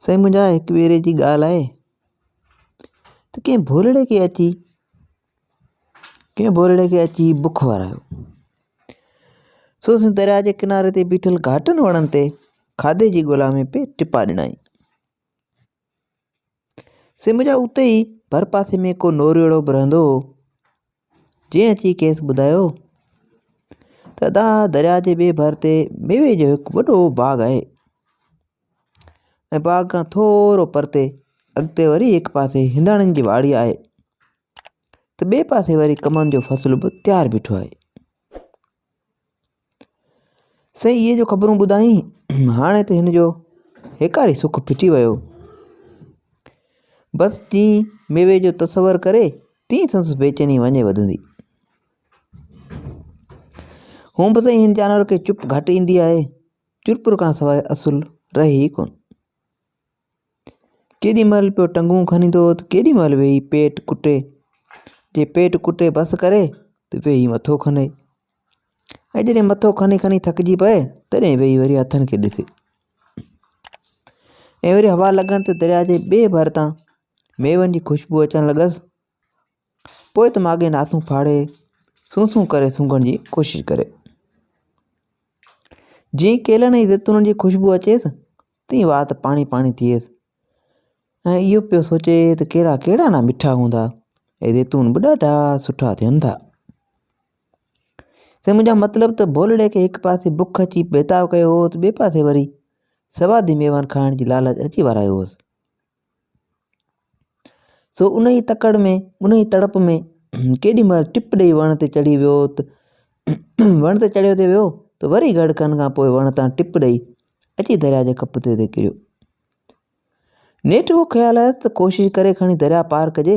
سائين منهنجا هڪ ڀيري جي ڳالهه آهي ته ڪنهن ڀولڙي کي اچي ڪنهن ڀولڙي کي اچي بک ورايو سو سن درياء جي ڪناري تي بيٺل گهاٽن وڻن تي کاڌي جي ڳولا ۾ پي ٽپا ڏنائين سي منهنجا اتي ئي ڀر پاسي ۾ ڪو نوريڙو به رهندو هو جنهن اچي کيس ٻڌايو ته ادا درياء جي ٻئي ڀر تي ميوي جو هڪ وڏو باغ آهي ۽ باغ کان ٿورو پرتي اڳتي وري هڪ پاسي هنداڻين جي واڙي آهي ته ٻئي پاسي وري ڪمند جو فصل به تيار بيٺو آهي. سائين اهي جو خبرون ٻڌائين هاڻي ته هن جو هيڪاري سک ڦٽي ويو. بس جيئن ميوي جو تصور ڪري تيئن سندس بيچيني وڃي وڌندي. هونء به سائين هن جانور کي چپ گهٽ ايندي آهي. چرپر کان سواء اصل رهي ئي ڪونه. ڪيڏي مهل پيو ٽنگون کنيندو هو ته ڪيڏي مهل ويهي پيٽ ڪٽي. جي پيٽ ڪٽي بس ڪري ته ويهي مٿو کني. ۽ جڏهن مٿو کني کني ٿڪجي پئي تڏهن ويهي وري هٿن کي ڏسي. ۽ وري هوا لڳڻ ته درياء جي ٻئي ڀر تان ميون جي خوشبو اچڻ لڳس. پوء ته ماڳهين ناسون ڦاڙي سون سون ڪري سونگهڻ جي ڪوشش ڪري. جيئن ڪيلن ۽ زيتونن جي خوشبو اچيس تيئن وات پاڻي پاڻي ٿئيس ۽ اهو پيو سوچي ته ڪيلا ڪهڙا نه مٺا هوندا ۽ زيتون به ڏاڍا سٺا ٿين ٿا سي منهنجا مطلب ته ڀولڙي کي هڪ پاسي بک اچي بيتاب ڪيو هو ته ٻئي پاسي وري سوادي ميوان کائڻ جي لالچ اچي ورايو هوس سو انهيء تڪڙ ۾، انهيء تڙپ ۾، ڪيڏي مهل ٽپ ڏيئي وڻ تي چڙهي ويو ته وڻ تي چڙهيو ته ويو ته وري گهڙڪن کان پوء وڻ تان ٽپ ڏيئي، اچي درياء جي کپتي تي ڪريو. نيٺ اهو خيال آيس ته ڪوشش ڪري کڻي درياء پار ڪجي.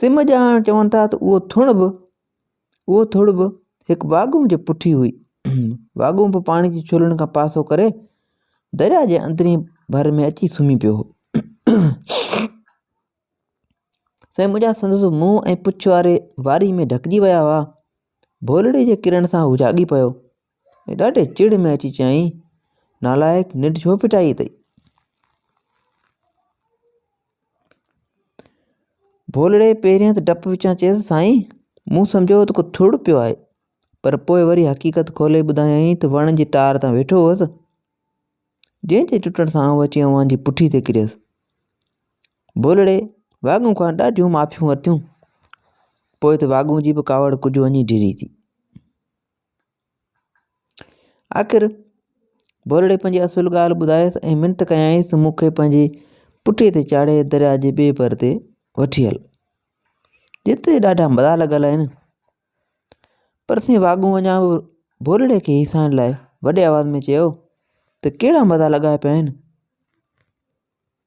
سم ڄاڻ چون ٿا ته اهو ٿڙ به اهو ٿڙ به هڪ واڳون جي پٺي هئي. واڳون به پاڻي جي ڇولن کان پاسو ڪري درياء جي اندرين ڀر ۾ اچي سمهي پيو هو. سائين منهنجا سندس منهن ۽ پڇ واري واري ۾ ڍڪجي ويا هئا. ڀولڙي جي ڪرڻ سان هو جاڳي پيو. ڏاڍي چڙ ۾ اچي چيائين، نالائق ننڊ ڇو ڦٽائي اٿئي؟ ڀولڙي پهريان ته ڊپ وچان چيس، سائين مون سمجهيو هو ته ڪو ٿڙ پيو آهي، پر پوء وري حقيقت کولي ٻڌايائين ته وڻ جي ٽار تان ويٺو هوس، جنهن جي ٽٽڻ سان آئون اچي اوهان جي پٺي تي ڪريس. ڀولڙي واڳون کان ڏاڍيون معافيون ورتيون، پوء ته واڳون جي به ڪاوڙ ڪجهه وڃي ڊري ٿي. آخر ڀولڙي پنهنجي اصل ڳالهه ٻڌايس ۽ منٿ ڪيائينس ته مون کي پنهنجي پٺي تي چاڙهي درياء جي ٻئي ڀر تي وٺي هل. جتي ڏاڍا مزا لڳل آهن. پر سين واڳون وڃان به ڀولڙي کي هيسائڻ لاء وڏي آواز ۾ چيو ته ڪهڙا مزا لڳا پيا آهن.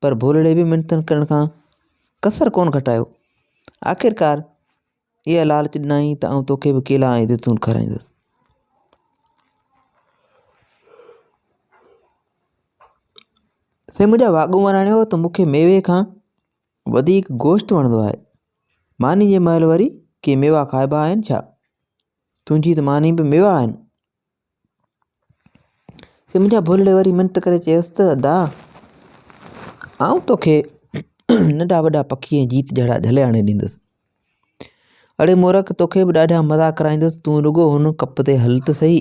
پر ڀولڙي به منٿن ڪرڻ کان ڪسر ڪونه گهٽايو. آخرڪار اها لالچ ڏنائين ته آئون توکي به ڪيلا ۽ زيتون کارائيندس. سائين منهنجا واڳون وراڻيو ته مون کي ميوي کان وڌيڪ گوشت وڻندو آهي. ماني جي مهل وري ڪي ميوا کائبا آهن ڇا؟ تنهنجي ته ماني به ميوا آهن. سمجهيا ڀولڙي وري منت ڪري چيس ته ادا! آئون توکي ننڍا وڏا پکي ۽ جيت جهڙا جهلي آڻي ڏيندس. اڙي مورک توکي به ڏاڍا مزا ڪرائيندس، تون رڳو هن ڪپ تي هل ته سهي.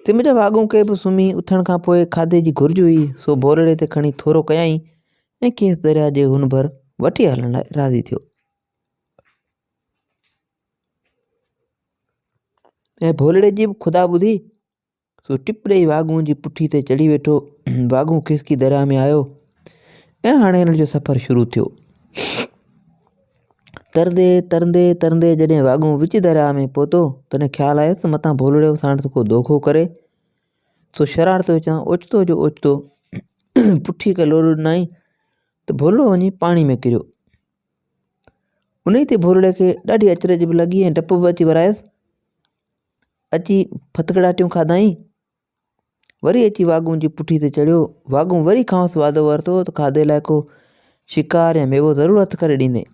سمجهيا واڳون کي به سمهي اٿڻ کان پوء کاڌي جي گهرج هئي، سو ڀولڙي تي کڻي ٿورو ڪيائين ۽ کيس درياء جي هن ڀر وٺي هلڻ لاء راضي ٿيو. ۽ ڀولڙي جي به خدا ٻڌي، سو ٽپ ڏئي واڳون جي پٺي تي چڙهي ويٺو، واڳون کسڪي درياء ۾ آيو ۽ هاڻي هن جو سفر شروع ٿيو. ترندي ترندي ترندي جڏهن واڳون وچ درياء ۾ پهتو، تڏهن خيال آيس ته متان ڀولڙي ساڻس ڪو دوکو ڪري، سو شرارت وچان اوچتو جو اوچتو پٺي کي لوڏو ڏنائين ته ڀولڙو وڃي پاڻي ۾ ڪريو. انهيء تي ڀورڙي کي ڏاڍي اچرج به لڳي ۽ ڊپ به اچي ورايس. اچي ڦٿڪڙاٽيون کاڌائين. وري اچي واڳون جي پٺي تي چڙهيو. واڳون وري کانئس وعدو ورتو ته کاڌي لاء ڪو شڪار يا ميوو ضرور هٿ ڪري ڏيندين.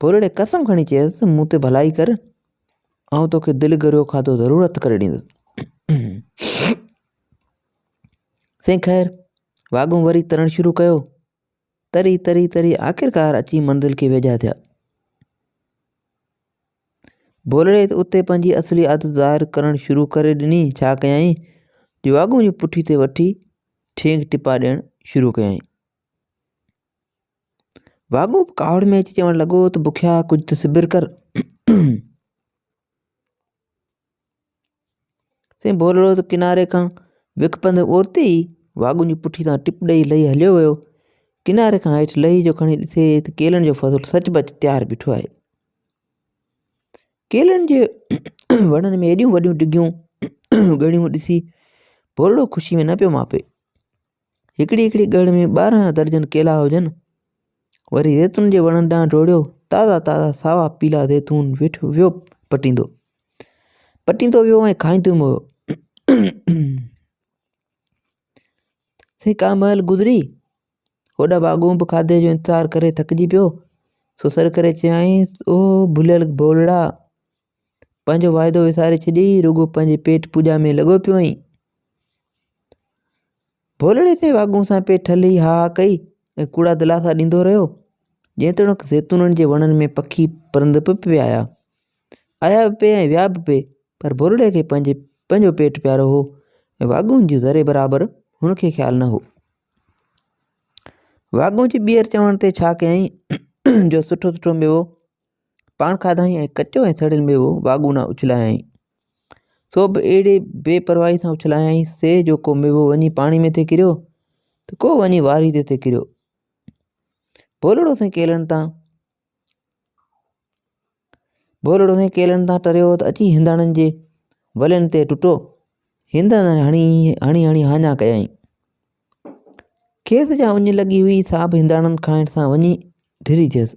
ڀورڙي قسم کڻي چيس ته مون تي ڀلائي ڪر، آئون توکي دل گهريو کاڌو ضرور هٿ ڪري ڏيندس. سائين خير! واڳون وري ترڻ شروع ڪيو. تري تري تري آخرڪار اچي منزل کي ويجها ٿيا. ڀولڙي ته اتي پنهنجي اصلي عادت ظاهر ڪرڻ شروع ڪري ڏني، ڇا ڪيائين جو واڳون جي پٺي تي وٺي ٺينگ ٽپا ڏيڻ شروع ڪيائين. واڳون به ڪاوڙ ۾ اچي چوڻ لڳو ته بکيا ڪجهه ته صبر ڪر. سائين ڀولڙو ته ڪناري کان وک پنڌ اورتي ئي واڳون جي پٺي تان ٽپ ڏئي لهي هليو ويو. ڪناري کان هيٺ لهي جو کڻي ڏسي ته ڪيلن جو فصل سچ پچ تيار بيٺو آهي. ڪيلن جي وڻن ۾ ايڏيون وڏيون ڊگهيون ڳڻيون ڏسي ڀولڙو خوشي ۾ نه پيو ماپي. هڪڙي هڪڙي ڳڙ ۾ ٻارهن درجن ڪيلا هجن. وري زيتون جي وڻن ڏانهن ڊوڙيو، تازا تازا ساوا پيلا زيتون ويٺ ويو پٽيندو. پٽيندو ويو ۽ کائيندو ويو. سائين ڪا مهل گذري، هوڏا باغون به کاڌي جو انتظار ڪري ٿڪجي پيو، سو سڏ ڪري چيائينس، او ڀليل ڀولڙا! پنهنجو واعدو وساري ڇڏي رڳو پنهنجي پيٽ پوڄا ۾ لڳو پيو آهين. ڀولڙي سين واڳون سان پئي ٺلهي ها ها ڪئي ۽ ڪوڙا دلاسا ڏيندو رهيو. جيتوڻيڪ زيتونن جي وڻن ۾ پکي پرند به پئي آيا. آيا به پئي ۽ ويا به پئي پر ڀولڙي کي پنهنجي پنهنجو پيٽ پيارو هو ۽ واڳون جي ذري برابر هن کي خيال نه هو. واڳون جي ٻيهر چوڻ تي ڇا ڪيائين جو سٺو سٺو ميوو پاڻ کاڌائين ۽ ڪچو ۽ سڙيل ميوو واڳونا اڇلايائين. سو به اهڙي بي پرواهي سان اڇلايائين سي جو ڪو ميوو وڃي پاڻي ۾ ٿي ڪريو ته ڪو وڃي واري تي ٿي ڪريو. ڀولڙو سائين ڪيلڻ تان ڀولڙو سائين ڪيلڻ تان ٽريو ته اچي هنداڻن جي ولين تي ٽٽو هندن هڻي هڻي هڻي هاڃا ڪيائين کيس جا اڃ لڳي هئي سا به هنداڻن کائڻ سان وڃي ڍري ٿيس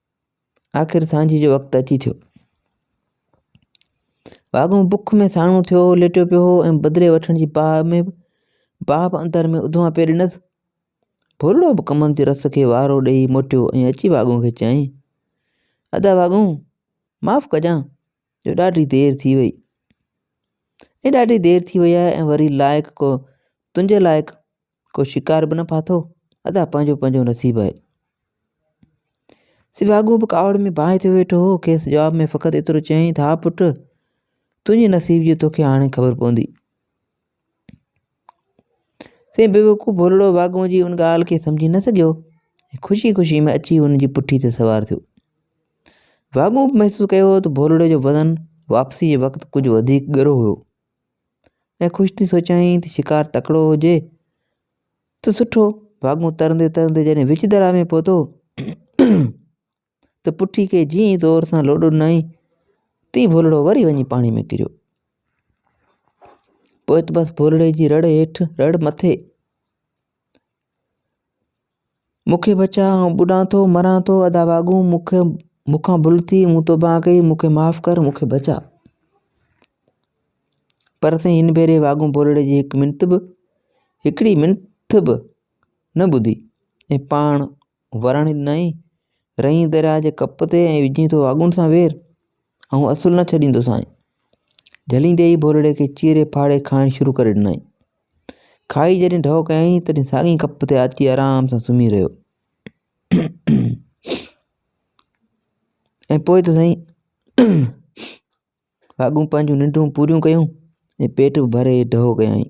آخر سانجهيء جو وقت اچي ٿيو. واڳون بک ۾ ساڻو ٿيو هو، ليٽيو پيو هو ۽ بدلي وٺڻ جي باهه ۾ باهه به اندر ۾ اڌواء پئي ڏنس. ڀورڙو به ڪمند جي رس کي وارو ڏيئي موٽيو ۽ اچي واڳون کي چيائين، ادا واڳون، معاف ڪجان جو ڏاڍي دير ٿي وئي. ۽ ڏاڍي دير ٿي وئي آهي ۽ وري لائق ڪو تنهنجي لائق ڪو شڪار به نه ڦاٿو، ادا پنهنجو پنهنجو نصيب آهي. سيواڳو به ڪاوڙ ۾ باهه ٿيو ويٺو هو، کيس جواب ۾ فقط ايترو چيائين ته ها پٽ، تنهنجي نصيب جي توکي هاڻي خبر پوندي. سي بيوقوف ڀولڙو واڳون جي ان ڳالهه کي سمجهي نه سگهيو ۽ خوشي خوشي ۾ اچي هن جي پٺي تي سوار ٿيو. واڳون به محسوس ڪيو هو ته ڀولڙي جو وزن واپسي جي وقت ڪجهه وڌيڪ ڳرو هيو. ۽ خوش ٿي سوچيائين ته شڪار تڪڙو هجي ته سٺو. ڀاڳون ترندي ترندي جڏهن وچ درياء ۾ پهتو ته پٺي کي جيئن ئي زور سان لوڏ ڏنائين تيئن ڀولڙو وري وڃي پاڻي ۾ ڪريو. پوء ته بس ڀولڙي جي رڙ هيٺ رڙ مٿي. مون کي بچاء، آئون ٻڏان ٿو، مران ٿو، ادا واڳون مون کي مون کان ڀل ٿي، مون توبه ڪئي، مون کي معاف ڪر، مون کي بچاء. پر سائين هن ڀيري واڳون ٻولڙي جي هڪ منٿ به هڪڙي منٿ به نه ٻڌي ۽ پاڻ ورڻ ڏنائين، رئين درياء جي ڪپ تي ۽ وجهين ٿو واڳون سان وير، آئون اصل نه ڇڏيندوسانء. جهليندي ئي ڀولڙي کي چيري ڦاڙي کائڻ شروع ڪري ڏنائين. کائي جڏهن ڍؤ ڪيائين تڏهن ساڳئين ڪپ تي آچي آرام سان سمهي رهيو. ۽ پوء ته سائين واڳون پنهنجون ننڊون پوريون ڪيون ۽ پيٽ به ڀري ڍؤ ڪيائين.